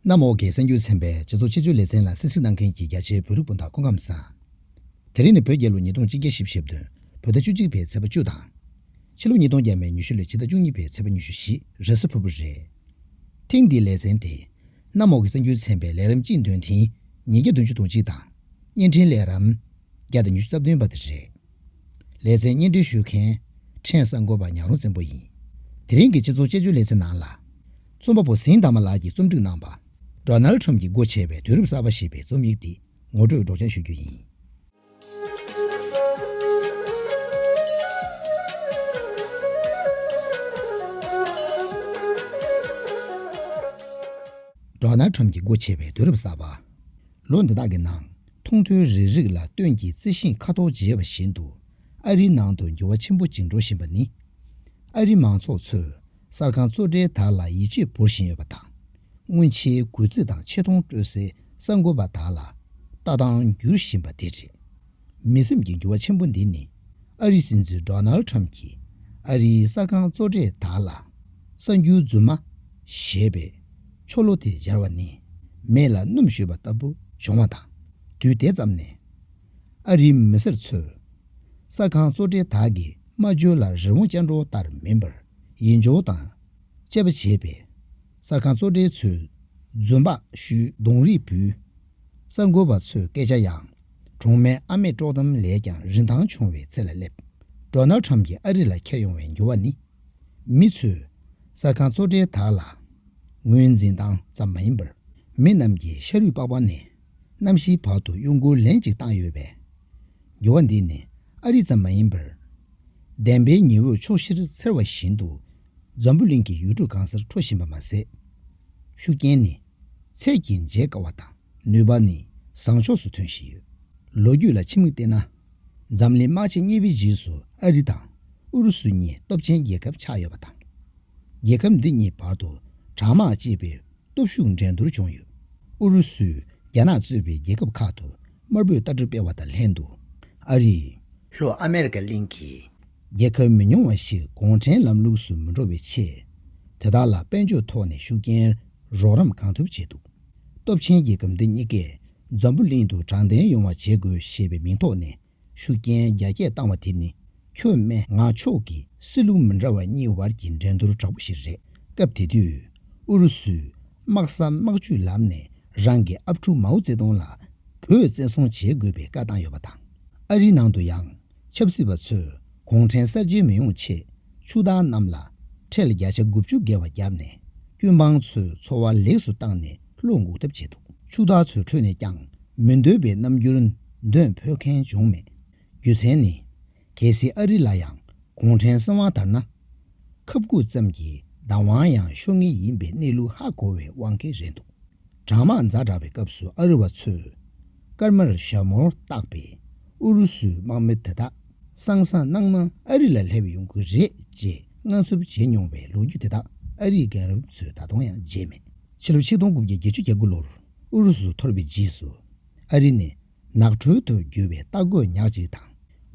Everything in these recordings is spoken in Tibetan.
གནམ་འོག་གི་གསར་འགྱུར་ཚན་པས་སྤྱི་ཚོགས་ཆེད་སྤྱོད་ལེ་ཚན་ལ་གསན་གཟིགས་གནང་མཁན་གྱི་རྒྱ་ཆེའི་བོད་རིགས་སྤུན་ཟླ་སྐུ་ཁམས་བཟང། དེ་རིང་ནི་བོད་རྒྱལ་ལོ་ཉིས་སྟོང་གཅིག་བརྒྱ་བཞི་བཅུ་ཞེ་བདུན་བོད་ཟླ་བཅུ་གཅིག་པའི་ཚེས་པ་བཅུ་དང། ཕྱི་ལོ་ཉིས་སྟོང་བརྒྱད་མའི་ཉི་ཤུ་ལོའི་ཕྱི་ཟླ་བཅུ་གཉིས་པའི་ཚེས་པ་ཉི་ཤུ་བཞི་རེས་གཟའ་ཕུར་བུ་རེད། ཐེངས་འདིའི་ལེ་ཚན་དེ། གནམ་འོག་གི་གསང་རྒྱུད་ཚན་པའི་ལས་རིམ་སྤྱི་འདོན་ཐིང་ཉིས་བརྒྱ་བདུན་ཅུ་དང་གཅིག་དང། བརྙན་འཕྲིན་ལས་རམ། བརྒྱ་དང་ཉི་ཤུ་རྩ་བདུན་པ་དེ་རེད། ལེ་ཚན་བརྙན་འཕྲིན་ཞུ་མཁན། ཕྲན་གསར་འགོད་པ་ཉག་རོང་བཙན་པོ་ཡིན། དེ་རིང་གི་སྤྱི་ཚོགས་དཔྱད་བརྗོད་ལེ་ཚན་ནང་ལ། རྩོམ་པ་པོ་ཟིང་དར་མ་ལགས་ཀྱིས་རྩོམ་སྒྲིག་གནང་པ། Donald Trump གྱིས་སྒོ་ཕྱེ་བའི་དུས་རབས་གསར་པ་ཞེས་པའི་རྩོམ་ཡིག་འདི་ངོ་སྤྲོད་སྒྲོག་སྦྱང་ཞུ་རྒྱུ་ཡིན། Donald Trump གྱི་སྒོ་ཕྱེ་བའི་དུས་རབས་གསར་པ། ལོ་འདི་དག་གི་ནང་མཐོང་ཐོས་རེ་རིགས་ལ་ལྟོས་ཀྱིས་རྩི་ཤིང་ཁ་དོག་བརྗེས་པ་བཞིན་དུ་ཨ་རིའི་ནང་དུ་འགྱུར་བ་ཆེན་པོ་འཇིག་འགྲོ་བཞིན་པ་ནི། ཨ་རིའི་མང་ཚོགས་ཚོས་གསར་ཁང་གཙོ་གྲས་དག་ལ་ཡིད་ཆེས་འབོར་བཞིན་ཡོད་པ་དང། སྔོན་ཆད་གུས་བརྩི་དང་ཆེ་མཐོང་སྤྲོད་སའི་གསར་འགོད་པ་དག་ལ་ལྟ་སྟངས་འགྱུར་བཞིན་པ་དེ་རེད། མི་སེམས་ཀྱི་འགྱུར་བ་ཆེན་པོ་འདི་ནི་ཨ་རིའི་སྲིད་འཛིན Donald Trump གྱིས་ཨ་རིའི་གསར་ཁང་གཙོ་གྲས་དག་ལ་གསར་འགྱུར་རྫུན་མ་ཞེས་པའི་ཆོ་ལོ་དེ་སྦྱར་བ་ནི་མེ་ལ་སྣུམ་བཞོས་པ་ལྟ་བུ་བྱུང་བ་དང་དུས་དེ་ཙམ་ནས་ཨ་རིའི་མི་སེར་ཚོས་གསར་ཁང་གཙོ་གྲས་དག་གི་སྨྲ་བརྗོད་ལ་རི་བོང་ཅལ་འདྲོགས་ལྟར་མིན་པར་ཡིད་འཇོག་དང་དཔྱད་པ་བྱས་པས། གསར་ཁང་གཙོ་གྲས་ཚོས་རྫུན་པགས་བཤུས་གདོང་རིས་འབུལ། གསར་འགོད་པ་ཚོས་སྐད་ཆ་ཡང་གྲོང་མའི་ཨ་མས་དཀྲོགས་གཏམ་ལས་ཀྱང་རིན་ཐང་ཆུང་བའི་ཚད་ལ་སླེབས། Donald Trump གྱིས་ཨ་རི་ལ་འཁྱེར་ཡོང་བའི་འགྱུར་བ་ནི། མི་ཚོས་གསར་ཁང་གཙོ་གྲས་དག་ལ་ངོས་འཛིན་སྟངས་ཙམ་མ་ཡིན་པར། མི་རྣམས་ཀྱིས་ཤ་རུས་པགས་པ་ནས་གནམ་གཤིས་བར་དུ་གཡོ་འགུལ་ལན་གཅིག་བཏང་ཡོད་པས། འགྱུར་བ་འདི་ནི་ཨ་རི་ཙམ་མ་ཡིན་པར། བདེན་པའི་ཉི་འོད་ཕྱོགས་བཞིར་འཚེར་བ་བཞིན་དུ་འཛམ་བུ་གླིང་གི་ཡུལ་གྲུ་གང་སར་འཕྲོ་བཞིན་པ་མ་ཟད། ཤུགས་རྐྱེན་ནི་ཚད་ཀྱིས་འཇལ་དཀའ་བ་དང་ནུས་པ་ནི་བཟང་ཕྱོགས་སུ་ཐོན་བཞིན་ཡོད། ལོ་རྒྱུས་ལ་ཕྱི་མིག་བལྟས་ན། འཛམ་གླིང་དམག་ཆེན་གཉིས་པའི་རྗེས་སུ་ཨ་རི་དང་ཨུ་རུ་སུ་གཉིས་སྟོབས་ཆེན་རྒྱལ་ཁབ་ཆགས་ཡོད་པ་དང། རྒྱལ་ཁབ་འདི་གཉིས་བར་དུ་དྲག་དམག་ཅེས་པའི་སྟོབས་ཤུགས་འགྲན་བསྡུར་བྱུང་ཡོད། ཨུ་རུ་སུས་རྒྱ་ནག་གཙོས་པའི་རྒྱལ་ཁབ་ཁག་ཏུ་དམར་པོའི་ལྟ་གྲུབ་སྤེལ་བ་དང་ལྷན་དུ་ཨ་རིས། ལྷོ་ཨ་མེ་རི་ཀ་གླིང་གི་རྒྱལ་ཁབ་མི་ཉུང་བ་ཞིག་གུང་ཁྲན་ལམ་ལུགས་སུ་མི་འགྲོ་བའི་ཆེད། དེ་དག་ལ་དཔལ་འབྱོར་ཐོག་ནས་ཤུགས་རྐྱེན་རོགས་རམ་གང་ཐུབ་བྱས་འདུག་སྟོབས་ཆེན་རྒྱལ་ཁབ་འདི་གཉིས་ཀས་འཛམ་བུ་གླིང་དུ་དྲང་བདེན་ཡོང་བ་བྱེད་དགོས་ཞེས་པའི་མིང་ཐོག་ནས་ཤུགས་རྐྱེན་རྒྱ་སྐྱེད་བཏང་བ་དེ་ནི་ཁྱོད་མན་ངག་མཆོག་གི་སྲིད་ལུགས་མི་འདྲ་བ་གཉིས་བར་གྱི་འགྲན་བསྡུར་དྲག་པོ་ཞིག་རེད། སྐབས་དེ་དུས་ཨུ་རུ་སུས་དམག་གསར་དམག་བཅུའི་ལམ་ནས་རང་གི་ཨབ་ཕྲུག་མའོ་ཙེ་ཏུང་ལ་བོད་བཙན་བཟུང་བྱེད་དགོས་པའི་བཀའ་བཏང་ཡོད་པ་དང། ཨ་རིའི་ནང་དུ་ཡང་ཆབ་སྲིད་པ་ཚོས་གུང་ཁྲན་གསར་བརྗེ་མི་ཡོང་ཆེད་ཆུ་བདག་རྣམས་ལ་ཁྲལ་བརྒྱ་ཆ་དགུ་བཅུ་བརྒལ་བ་བརྒྱབ་ནས་ཀུན་སྤངས་ཚོའི་འཚོ་བ་ལེགས་སུ་བཏང་ནས་བློ་འགུག་ཐབས་བྱས་འདུག་ཕྱུག་བདག་ཚོའི་ཁྲོད་ནས་ཀྱང་མི་འདོད་པའི་རྣམ་འགྱུར་འདོན་ཕོད་མཁན་བྱུང་མེད། རྒྱུ་མཚན་ནི། གལ་སྲིད་ཨ་རི་ལ་ཡང་གུང་ཁྲན་སྲིད་དབང་དར་ན། ཁབ་སྐུད་ཙམ་གྱི་བདག་དབང་ཡང་ཤོར་ངེས་ཡིན་པའི་གནས་ལུགས་ཧ་གོ་བའི་དབང་གིས་རེད་འདུག་གྲང་དམག་འཛའ་དྲག་པའི་སྐབས་སུ་ཨ་རི་བ་ཚོས་སྐར་མར་ཞྭ་མོར་བཏགས་པའི་ཨུ་རུ་སུའི་དམག་མི་དེ་དག་སང་སང་གནང་ན་ཨ་རི་ལ་སླེབས་ཡོང་གི་རེད་ཅེས་དངངས་འཚུབ་བྱེད་མྱོང་བའི་ལོ་རྒྱུས་དེ་དག་ཨ་རིའི་རྒན་རབས་ཚོས་ད་དུང་ཡང་བརྗེད་མེད། ཕྱི་ལོ་ཆིག་སྟོང་དགུ་བརྒྱ་བརྒྱད་ཅུ་གྱ་དགུ་ལོར་ཨུ་རུ་སུ་འཐོར་བའི་རྗེས་སུ། ཨ་རི་ནས་ནགས་ཁྲོད་དུ་རྒྱུ་བའི་རྟ་རྒོད་ཉག་ཅིག་དང་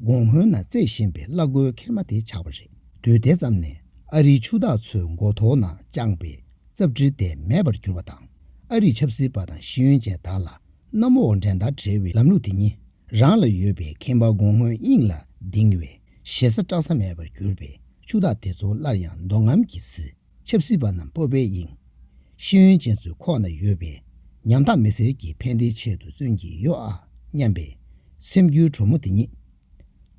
དགུང་སྔོན་ན་རྩེད་བཞིན་པའི་གླག་རྒོད་ཁེར་མ་དེ་ཆགས་པ་རེད། དུས་དེ་ཙམ་ནས་ཨ་རིའི་ཕྱུག་བདག་ཚོའི་མགོ་ཐོག་ན་དཔྱངས་པའི་རྩབ་དྲི་དེ་མེད་པར་གྱུར་བ་དང། ཨ་རིའི་ཆབ་སྲིད་པ་དང་ཤེས་ཡོན་ཅན་དག་ལ་གནམ་འོག་འགྲན་ཟླ་བྲལ་བའི་ལམ་ལུགས་དེ་ཉིད་རང་ལ་ཡོད་པའི་ཁེངས་པ་དགུང་སྔོན་དབྱིངས་ལ་ལྡིང་བའི་ཞེ་ས་བཀྲག་ས་མེད་པར་གྱུར་པས་ཕྱུག་བདག་དེ་ཚོ་སླར་ཡང་མདོ་ངམ་གྱི་ཟིལ། ཆབ་སྲིད་པ་རྣམས་སྤོབས་པའི་དབྱིངས། ཤེས་ཡོན་ཅན་ཚོའི་ཁོག་ན་ཡོད་པའི། ཉམ་ཐག་མི་སེར་གྱི་ཕན་བདེའི་ཆེད་དུ་བརྩོན་གྱི་ཡོད་ཨ་སྙམ་པའི། སེམས་འགྱུའི་གྲོགས་མོ་དེ་ཉིད།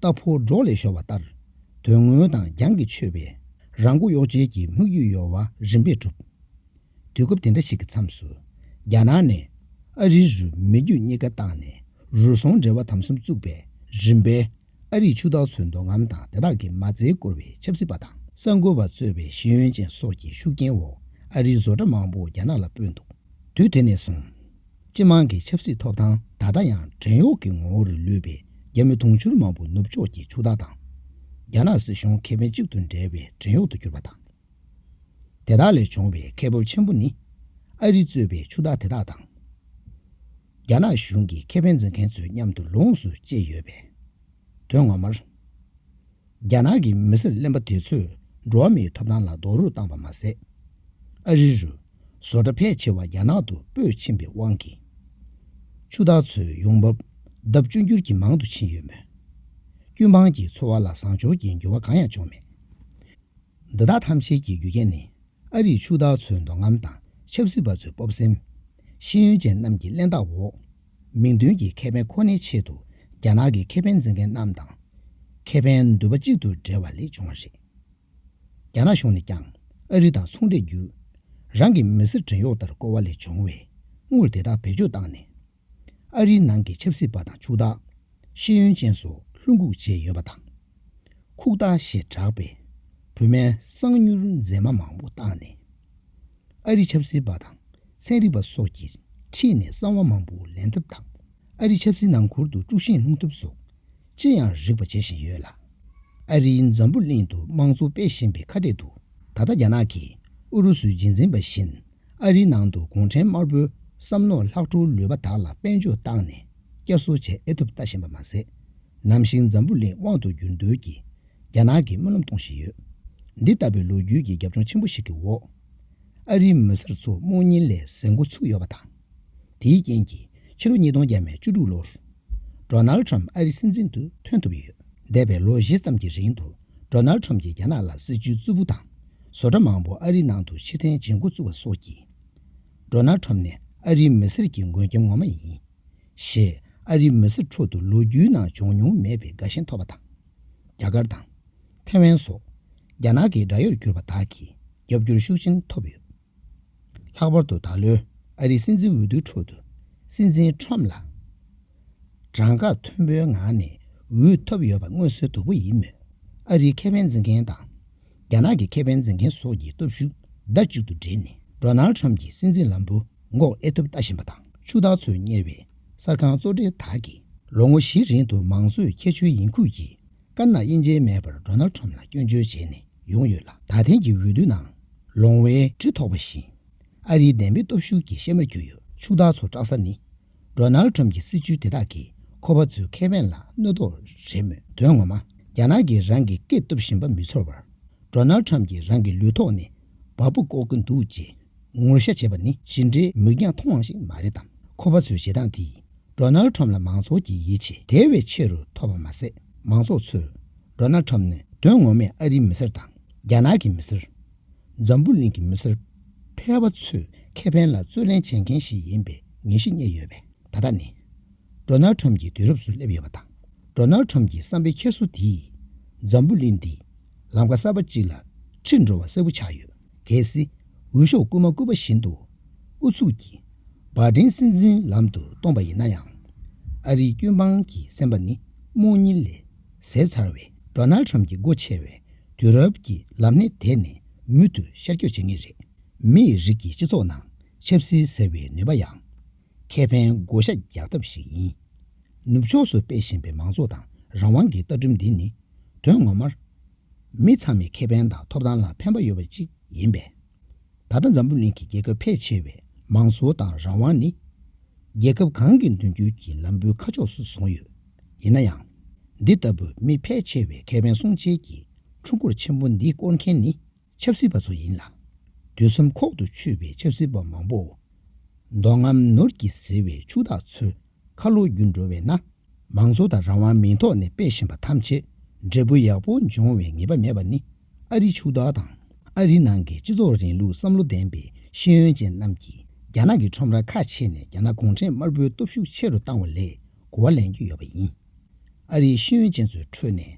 རྟ་ཕོ་སྒྲོག་ལས་ཤོར་བ་ལྟར། དོན་དངོས་དང་རྒྱང་གིས་ཆོད་པའི། རང་མགོ་གཡོག་བྱེད་ཀྱི་དམིགས་ཡུལ་ཡོལ་བ་རིམ་པས་གྲུབ། དུས་སྐབས་དེ་འདྲ་ཞིག་གི་མཚམས་སུ། རྒྱ་ནག་ནས། ཨ་རིའི་རུ་མི་རྒྱུད་གཉིས་ཀ་བཏང་ནས་རུལ་སོང་འབྲེལ་བ་དམ་གསུམ་བཙུགས་པའི་རིམ་པའི། ཨ་རིས་ཕྱུག་བདག་ཚོའི་འདོད་རྔམ་དང་དེ་དག་གི་མ་རྩའི་བསྐོར་བའི་ཆབ་སྲིད་པ་དང་གསར་འགོད་པ་གཙོས་པའི་ཤེས་ཡོན་ཅན་སོགས་ཀྱི་ཤུགས་རྐྱེན་འོག་ཨ་རིའི་བཟོ་གྲྭ་མང་པོ་རྒྱ་ནག་ལ་སྤོས་འདུག་དུས་དེ་ནས་བཟུང། སྤྱི་དམངས་ཀྱི་ཆབ་སྲིད་ཐོབ་ཐང་ད་ལྟ་ཡང་བྲན་གཡོག་གི་ངོ་བོ་རུ་ལུས་པའི་རྒྱ་མི་དུང་ཕྱུར་མང་པོ་ནུབ་ཕྱོགས་ཀྱི་ཕྱུག་བདག་དང། རྒྱ་ནག་སྲིད་གཞུང་ཁེ་ཕན་གཅིག་ཏུ་འབྲེལ་བའི་བྲན་གཡོག་ཏུ་གྱུར་པ་དང། དེ་དག་ལས་བྱུང་བའི་ཁེ་སྤོབས་ཆེན་པོ་ནི། ཨ་རི་གཙོས་པའི་ཕྱུག་བདག་དེ་དག་དང། རྒྱ་ནག་གཞུང་གི་ཁེ་ཕན་འཛིན་མཁན་ཚོས་མཉམ་དུ་ལོངས་སུ་སྤྱད་ཡོད་པས། དོན་ངོ་མར། རྒྱ་ནག་གི་མི་སེར་གླེན་པ་དེ་ཚོས་འགྲོ་བ་མིའི་ཐོབ་ཐང་ལ་རྡོག་རོལ་བཏང་བ་མ་ཟད། ཨ་རི་རུ་བཟོ་གྲྭ་ཕལ་ཆེ་བ་རྒྱ་ནག་ཏུ་སྤོས་ཕྱིན་པའི་དབང་གིས། ཕྱུག་བདག་ཚོའི་ཡོང་འབབ་ལྡབ་བཅུ་འགྱུར་གྱིས་མང་དུ་ཕྱིན་ཡོད་མོད། ཀུན་སྤངས་ཀྱི་འཚོ་བ་ལ་བཟང་ཕྱོགས་ཀྱི་འགྱུར་བ་གང་ཡང་བྱུང་མེད། འདི་དག་ཐམས་ཅད་ཀྱི་རྒྱུ་རྐྱེན་ནི། ཨ་རིག་ཕྱུག་བདག་ཚོའི་འདོད་རྔམ་དང་ཆབ་སྲིད་པ་ཚོའི་སྤོབས་སེམས། ཤེས་ཡོན་ཅན་རྣམས་ཀྱི་གླེན་རྟགས་འོག། མིང་དོན་གྱི་ཁེ་ཕན་ཁོ་ནའི་ཆེད་དུ་རྒྱ་ནག་གི་ཁེ་ཕན་འཛིན་མཁན་རྣམས་དང། ཁེ་ཕན་འདོད་པ་གཅིག་ཏུ་སྦྲེལ་བ་ལས་བྱུང་བ་རེད། རྒྱ་ནག་གཞུང་ནས་ཀྱང་ཨ་རི་དང་ཚོང་འབྲེལ་བརྒྱུད། རང་གི་མི་སེར་བྲན་གཡོག་ལྟར་བཀོལ་བ་ལས་བྱུང་བའི་དངུལ་དེ་དག་བེད་སྤྱོད་བཏང་ནས། ཨ་རིའི་ནང་གི་ཆབ་སྲིད་པ་དང་ཕྱུག་བདག། ཤེས་ཡོན་ཅན་སོགས་ལྷུན་འགུག་བྱས་ཡོད་པ་དང། ཁུག་རྟ་ཞེས་གྲགས་པའི་བོད་མའི་གསང་མྱུལ་མཛེས་མ་མང་པོ་བཏང་ནས། ཨ་རིའི་ཆབ་སྲིད་པ་དང་ཚན་རིག་པ་སོགས་ཀྱིས་ཁྲིད་ནས་གསང་བ་མང་པོ་ལེན་ཐབས་དང་ཨ་རིའི་ཆབ་སྲིད་ནང་འཁུར་དུ་དཀྲུག་ཤིང་སློང་ཐབས་སོགས་ཅི་ཡང་རིགས་པ་བྱེད་བཞིན་ཡོད་ལ། ཨ་རིའི་འཛམ་བུ་གླིང་དུ་དམངས་གཙོ་སྤེལ་བཞིན་པའི་ཁ་གཏད་དུ་ད་ལྟ་རྒྱ་ནག་གིས་ཨུ་རུ་སུའི་རྗེས་འཛིན་པ་བཞིན་ཨ་རིའི་ནང་དུ་གུང་ཁྲན་དམར་པོའི་བསམ་མནོ་ལྷག་འཕྲོར་ལུས་པ་དག་ལ་དཔལ་འབྱོར་བཏང་ནས་བསྐྱར་གསོ་བྱེད་ཨེ་ཐུབ་ལྟ་བཞིན་པ་མ་ཟད། ནམ་ཞིག་འཛམ་བུ་གླིང་དབང་དུ་འགྱུར་འདོད་ཀྱིས་རྒྱ་ནག་གི་སྨོན་ལམ་གཏོང་བཞིན་ཡོད། འདི་ལྟ་བུའི་ལོ་རྒྱུས་ཀྱི་རྒྱབ་ལྗོངས་ཆེན་པོ་ཞིག་གི་འོག་ཨ་རིའི་མི་སེར་ཚོ་རྨོངས་གཉིད་ལས་གཟེར་མགོ་ཚུགས་ཡོད་པ་དང། དེའི་རྐྱེན་གྱིས་ཕྱི་ལོ་ཉིས་སྟོང་བརྒྱད་མའི་བཅུ་དྲུག་ལོར། Donald Trump ཨ་རིའི་སྲིད་འཛིན་དུ་ཐོན་ཐུབ་ཡོད། འདས་པའི་ལོ་བཞི་ཙམ་གྱི་རིང་དུ་ནལ་ཁྲོམ་གྱིས་རྒྱ་ནག་ལ་སྲིད་ཇུས་རྩུབ་པོ་དང་བཟོ་གྲྭ་མང་པོ་ཨ་རིའི་ནང་དུ་ཕྱིར་འཐེན་བྱེད་འགོ་བཙུགས་པ་སོགས་ཀྱིས། ལོ་ནལ་ཁྲོམ་ནི་ཨ་རིའི་མི་སེར་གྱི་མགོན་སྐྱབས་ངོ་མ་ཡིན། ཞེས་ཨ་རིའི་མི་སེར་ཁྲོད་དུ་ལོ་རྒྱུས་ནང་བྱུང་མྱོང་མེད་པའི་དགའ་ཞེན་ཐོབ་པ་དང། རྒྱ་གར་དང། ཐེ་ཝན་སོགས་རྒྱ་ནག་གི་དགྲ་ཡོར་གྱུར་པ་དག་གིས་རྒྱབ་སྐྱོར་ཤུགས་ཆེན་ཐོབ་ཡོད། ལྷག་པར་དུ་ད་ལོའི་ཨ་རིའི་སྲིད་འཛིན་འོས་བསྡུའི་ཁྲོད་དུ་སྲིད་འཛིན Trump ལ་གྲངས་ཀ་མཐོན་པོའི་ངང་ནས་འོས་ཐོབ་ཡོད་པ་མངོན་གསལ་དོད་པོ་ཡིན་མོད། ཨ་རིའི་ཁེ་ཕན་འཛིན་མཁན་དང་རྒྱ་ནག་གི་ཁེ་ཕན་འཛིན་མཁན་སོགས་ཀྱི་སྟོབས་ཤུགས་ཟླ་གཅིག་ཏུ་སྦྲེལ་ནས Donald Trump གྱི་སྲིད་འཛིན་ལམ་བུ་འགོག་ཨེ་ཐུབ་ལྟ་བཞིན་པ་དང་ཕྱུག་བདག་ཚོས་གཉེར་བའི་གསར་ཁང་གཙོ་གྲས་དག་གིས་ལོ་ངོ་བཞི་རིང་དུ་མང་གཙོའི་ཁྱད་ཆོས་ཡིན་ཁུལ་གྱིས་དཀར་ནག་དབྱེ་འབྱེད་མེད་པར་རྡོ་ནལ་ཁྲོམ་ལ་སྐྱོན་བརྗོད་བྱས་ནས་ཡོང་ཡོད་ལ་ད་ཐེངས་ཀྱི་འོས་བསྡུའི་ནང་ལོང་བའི་གྲི་ཐོགས་པ་བཞིན་ཨ་རིའི་བདེན་པའི་སྟོབས་ཤུགས་ཀྱི་གཤེད་མར་གྱུར་ཡོད་ཕྱུག་བདག་ཚོ་སྐྲག་ས་ནི་རྡོ་ནལ་ཁྲོམ་གྱི་སྲིད་བྱུས་དེ་དག་གིས་ཁོ་པ་ཚོའི་ཁེ་ཕན་ལ་གནོད་དོགས་རེད་མོད་དོན་ངོ་མ་རྒྱ་ནག་གིས་རང་གི་སྐད་བཏུབ་བཞིན་པ་མི་ཚོར་བར་རྡོ་ནལ་ཁྲོམ་གྱིས་རང་གི་ལུས་ཐོག་ནས་བ་སྤུ་བཀོག་གིན་འདུག་ཅེས། ངོ་བཤད་བྱེད་པ་ནི་ཇི་འདྲའི་མིག་རྒྱང་ཐུང་བ་ཞིག་མ་རེད་དམ། ཁོ་པ་ཚོའི་བྱེད་སྟངས་དེས Donald Trump ལ་མང་ཚོགས་ཀྱི་ཡིད་ཆེས་དེ་བས་ཆེ་རུ་ཐོབ་པ་མ་ཟད་མང་ཚོགས་ཚོས Donald Trump ནི་དོན་ངོ་མས་ཨ་རིའི་མི་སེར་དང་རྒྱ་ནག་གི་མི་སེར། འཛམ་བུ་གླིང་གི་མི་སེར་ཕལ་བ་ཚོས་ཁེ་ཕན་ལ་རྩོད་ལེན་བྱེད་མཁན་ཞིག་ཡིན་པའི་ངེས་གཞི་རྙེད་ཡོད་པས་ད་ལྟ་ནི Donald Trump གྱི་དུས་རབས་སུ་སླེབས་ཡོད་པ་དང Donald Trump གྱི་བསམ་པའི་འཁྱེར་སོ་དེས་འཛམ་བུ་གླིང་འདི་ལམ་ཁ་གསར་པ་ཅིག་ལ་ཁྲིད་འགྲོ་བ་གསལ་བོ་ཆགས་ཡོད། གལ་སྲིད་འོས་ཤོག་བསྐུར་མ་བསྐུར་བ་བཞིན་དུ་ཨུ་ཚུགས་ཀྱིས་བགྲེང་སེམས་འཛིན་ལམ་དུ་གཏོང་པ་ཡིན་ན་ཡང། ཨ་རིའི་སྐྱོན་སྤངས་ཀྱི་སེམས་པ་ནི་རྨོངས་གཉིད་ལས་ཟད་ཚར་བའི་རྡོ་ནལ་ཁྲམ་གྱི་སྒོ་ཕྱེ་བའི་དུས་རབས་ཀྱི་ལམ་སྣེ་དེད་ནས་མུ་མཐུད་ཤར་སྐྱོད་བྱེད་ངེས་རེད། མིའི་རིགས་ཀྱི་སྤྱི་ཚོགས་ནང་ཆབ་སྲིད་ཟེར་བའི་ནུས་པ་ཡང། ཁེ་ཕན་བགོ་བཤའ་རྒྱག་ཐབས་ཤིག་ཡིན། ནུབ་ཕྱོགས་སུ་སྤེལ་བཞིན་པའི་མང་གཙོ་དང་རང་དབང་གི་ལྟ་གྲུབ་འདི་ནི་དོན་ངོ་མར། མི་ཚང་མའི་ཁེ་ཕན་དང་ཐོབ་ཐང་ལ་ཕན་པ་ཡོད་པ་ཅིག་ཡིན་པས། ད་ལྟ་འཛམ་བུ་གླིང་གི་རྒྱལ་ཁབ་ཕལ་ཆེ་བས་མང་གཙོ་དང་རང་དབང་ནི། རྒྱལ་ཁབ་གང་གི་མདུན་སྐྱོད་ཀྱི་ལམ་བུའི་ཁ་ཕྱོགས་སུ་བཟུང་ཡོད། ཡིན་ན་ཡང། འདི་ལྟ་བུ་མི་ཕལ་ཆེ་བའི་ཁེ་ཕན་སྲུང་བྱེད་ཀྱི་འཕྲུལ་འཁོར་ཆེན་པོ་འདི་བསྐོར་མཁན་ནི་ཆབ་སྲིད་པ་ཚོ་ཡིན་ལ། དུས་གསུམ་ཁོག་ཏུ་ཆུད་པའི་ཆབ་སྲིད་པ་མང་པོའོ། མདོག་ངམ་ནོར་གྱིས་བཟི་བའི་ཕྱུག་བདག་ཚོའི་ཁ་ལོ་བསྒྱུར་འགྲོ་བས་ན། མང་གཙོ་དང་རང་དབང་མིང་ཐོག་ནས་སྤེལ་བཞིན་པ་ཐམས་ཅད་འབྲས་བུ་ཡག་པོ་འབྱུང་བའི་ངེས་པ་མེད་པ་ནི་ཨ་རི་ཕྱུག་བདག་དང་ཨ་རི་ནང་གི་སྤྱི་ཚོགས་རིང་ལུགས་བསམ་བློ་ལྡན་པའི་ཤེས་ཡོན་ཅན་རྣམས་ཀྱིས་རྒྱ་ནག་གི་ཁྲོམ་ར་ཁ་ཕྱེ་ནས་རྒྱ་ནག་གུང་ཁྲན་དམར་པོའི་སྟོབས་ཤུགས་ཆེ་རུ་བཏང་བ་ལས་གོ་བ་ལེན་རྒྱུ་ཡོད་པ་ཡིན། ཨ་རིའི་ཤེས་ཡོན་ཅན་ཚོའི་ཁྲོད་ནས་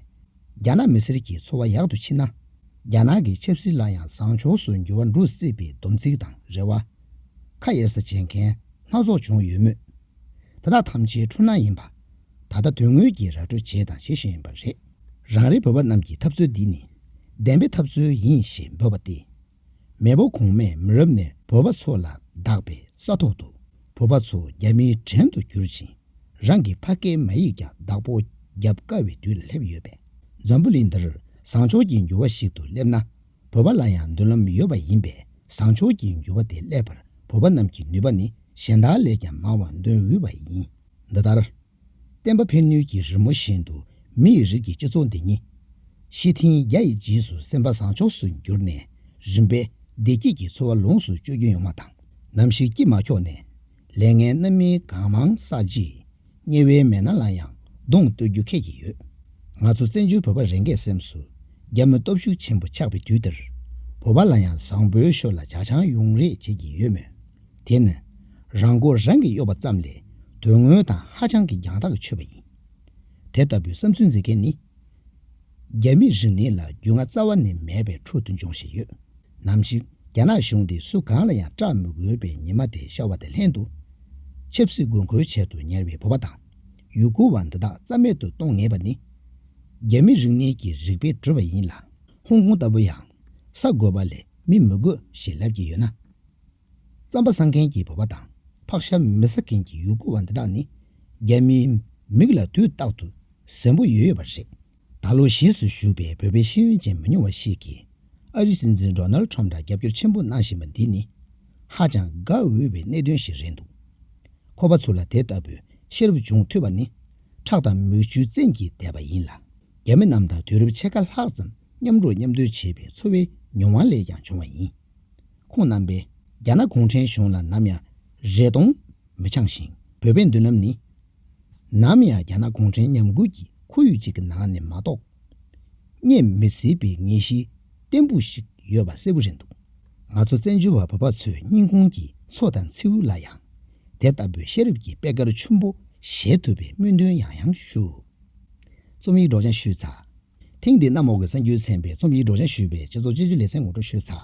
རྒྱ་ནག་མི་སེར་གྱི་འཚོ་བ་ཡག་ཏུ་ཕྱིན་ན་རྒྱ་ནག་གི་ཆབ་སྲིད་ལ་ཡང་བཟང་ཕྱོགས་སུ་འགྱུར་བ་འགྲོ་སྲིད་པའི་སྡོམ་ཚིག་དང་རེ་བ། ཁ་གཡར་ས་བྱེད་མཁན་སྣ་ཚོགས་བྱུང་ཡོད་མོད། དེ་དག་ཐམས་ཅད་འཁྲུལ་སྣང་ཡིན་པ། ད་ལྟ་དོན་དངོས་ཀྱིས་ར་སྤྲོད་བྱས་དང་བྱེད་བཞིན་ཡོད་པ་རེད། རང་རེ་བོད་པ་རྣམས་ཀྱི་ཐབས་རྩོད་འདི་ནི་བདེན་པའི་ཐབས་རྩོད་ཡིན་ཞེས་འབོད་པ་སྟེ། མེས་པོ་གོང་མས་མི་རབས་ནས་བོད་པ་ཚོ་ལ་བདག་པའི་ས་ཐོག་ཏུ་བོད་པ་ཚོ་རྒྱ་མིའི་བྲན་དུ་བསྒྱུར་ཅིང་རང་གི་ཕ་སྐད་མ་ཡིག་ཀྱང་བདག་པོ་རྒྱབ་དཀའ་བའི་དུས་ལ་སླེབས་ཡོད་པས་འཛམ་བུ་གླིང་འདིར་བཟང་ཕྱོགས་ཀྱི་འགྱུར་བ་ཞིག་ཏུ་སླེབས་ན། བོད་པ་ལ་ཡང་མདུན་ལམ་ཡོད་པ་ཡིན་པས་བཟང་ཕྱོགས་ཀྱི་འགྱུར་བ་དེ་སླེབས་པར་བོད་པ་རྣམས་ཀྱི་ནུས་པ་ནི་གཞན་དག་ལས་ཀྱང་མང་བ་འདོན་འོས་པ་ཡིན། འདི་ལྟར། བསྟན་པ་ཕན་ནུས་ཀྱི་རི་མོ་བཞིན་དུ་མི་ཡི་རིགས་ཀྱི་སྤྱི་ཚོགས་འདི་ཉིད། ཤེས་ཐིང་རྒྱ་ཡི་རྗེས་སུ་སེམས་པ་བཟང་ཕྱོགས་སུ་འགྱུར་ནས་རིམ་པས་བདེ་སྐྱིད་ཀྱི་འཚོ་བ་ལོངས་སུ་སྤྱོད་རྒྱུ་ཡོང་བ་དང་ནམ་ཞིག་སྐྱིད་མ་ཁྱོག་ནས། ལས་ངན་རྣམ་སྨིན་གང་མང་བསགས་རྗེས། དམྱལ་བའི་མེ་ནང་ལ་ཡང་གདོང་གཏོད་རྒྱུ་ཁད་ཀྱི་ཡོད། ང་ཚོ་བཙན་བྱོལ་བོད་པ་རེ་འགས་སེམས་སུ་རྒྱ་མོའི་སྟོབས་ཤུགས་ཆེན་པོ་ཆགས་པའི་དུས་འདིར། བོད་པ་ལ་ཡང་བཟང་པོའི་ཞོར་ལ་ཇག་ཆང་ཡོང་རེ་བྱེད་ཀྱི་ཡོད་མོད། དེ་ནི། རང་མགོ་རང་གིས་གཡོགས་པ་ཙམ་ལས་དོན་དངོས་དང་ཧ་ཅང་གི་རྒྱང་ཐག་ཆོད་པ་ཡིན། དེ་ལྟ་བུའི་བསམ་ཚུལ་འཛིན་མཁན་ནི། རྒྱ་མི་རིགས་ནི་ལ་རྒྱུས་ང་རྩ་བ་ནས་མེད་པའི་ཁྲོད་དུ་འབྱུང་བཞིན་ཡོད། ནམ་ཞིག་རྒྱ་ནག་གཞུང་འདི་སུ་གང་ལ་ཡང་སྐྲག་མི་དགོས་པའི་ཉི་མ་དེ་ཤར་བ་དང་ལྷན་དུ། ཆབ་སྲིད་དགོས་མཁོའི་ཆེད་དུ་ཉར་བའི་བོད་པ་དང་ཡུ་གུར་བ་འདི་དག་རྩ་མེད་དུ་གཏོང་ངེས་པ་ནི། རྒྱ་མི་རིག་གནས་ཀྱི་རིག་པའི་བྲོད་པ་ཡིན་ལ། ཧོང་ཀོང་ལྟ་བུ་ཡང་ས་དགོས་པ་ལས་མི་མི་དགོས་ཞེས་ལབ་ཀྱི་ཡོད་ན། རྩམ་པ་ཟ་མཁན་གྱི་བོད་པ་དང་ཕག་ཤ་མི་ཟ་མཁན་གྱི་ཡུ་གུར་བ་འདི་དག་ནི་རྒྱ་མིའི་མིག་ལ་དུས་རྟག་ཏུ་གཟན་པོ་ཡོད་ཡོད་པ་རེད། ད་ལོ་གཞིས་སུ་བཞུགས་པའི་བོད་པའི་ཤེས་ཡོན་ཅན་མི་ཉུང་བ་ཞིག་གིས་ཨ་རིའི་སྲིད་འཛིན Donald Trump ལ་རྒྱབ་སྐྱོར་ཆེན་པོ་གནང་བཞིན་པ་འདི་ནི་ཧ་ཅང་དགའ་འོས་པའི་གནད་དོན་ཞིག་རེད་འདུག་ཁོ་པ་ཚོ་ལ་དེ་ལྟ་བུའི་ཤེས་རབ་འབྱུང་ཐུབ་པ་ནི་ཁྲག་དང་མིག་ཆུའི་བཙན་གྱིས་བདས་པ་ཡིན་ལ་རྒྱ་མི་རྣམས་དང་དུས་རབས་ཕྱེད་ཀ་ལྷག་ཙམ་མཉམ་འགྲོགས་མཉམ་སྡོད་བྱས་པའི་འཚོ་བའི་མྱོང་བ་ལས་ཀྱང་བྱུང་བ་ཡིན། ཁོང་རྣམ་པས་རྒྱ་ནག་གུང་ཁྲན་གཞུང་ལ་ནམ་ཡང་རེ་སྟོང་མི་འཆང་ཞིང་བོད་པའི་མདུན་ལམ་ནི་ནམ་ཡང་རྒྱ་ནག་གུང་ཁྲན་ཉམས་རྒུད་ཀྱི་ཁོར་ཡུག་ཅིག་གི་ནང་ནས་མ་གཏོགས། རྙེད་མི་སྲིད་པའི་ངེས་ཤེས་བརྟན་པོ་ཞིག་ཡོད་པ་གསལ་པོ་རེད་འདུག་ང་ཚོ་བཙན་བྱོལ་བ་བོད་པ་ཚོའི་སྙིང་ཁོང་གི་མཚོ་དང་མཚེའུ་ལ་ཡང་དེ་ལྟ་བུའི་ཤེས་རབ་ཀྱི་པད་དཀར་ཆུན་པོ་བཞད་ཐུབ་པའི་སྨོན་འདུན་ཡང་ཡང་ཞུ། རྩོམ་ཡིག་སྒྲོག་སྦྱང་ཞུས་ཚར། ཐེངས་འདིའི་གནམ་འོག་གི་གསར་འགྱུར་ཚན་པའི་རྩོམ་ཡིག་སྒྲོག་སྦྱང་ཞུས་པའི་བཅད་གཙོ་བཅད་གཅོད་ལེ་ཚན་ངོ་སྤྲོད་ཞུས་ཚར།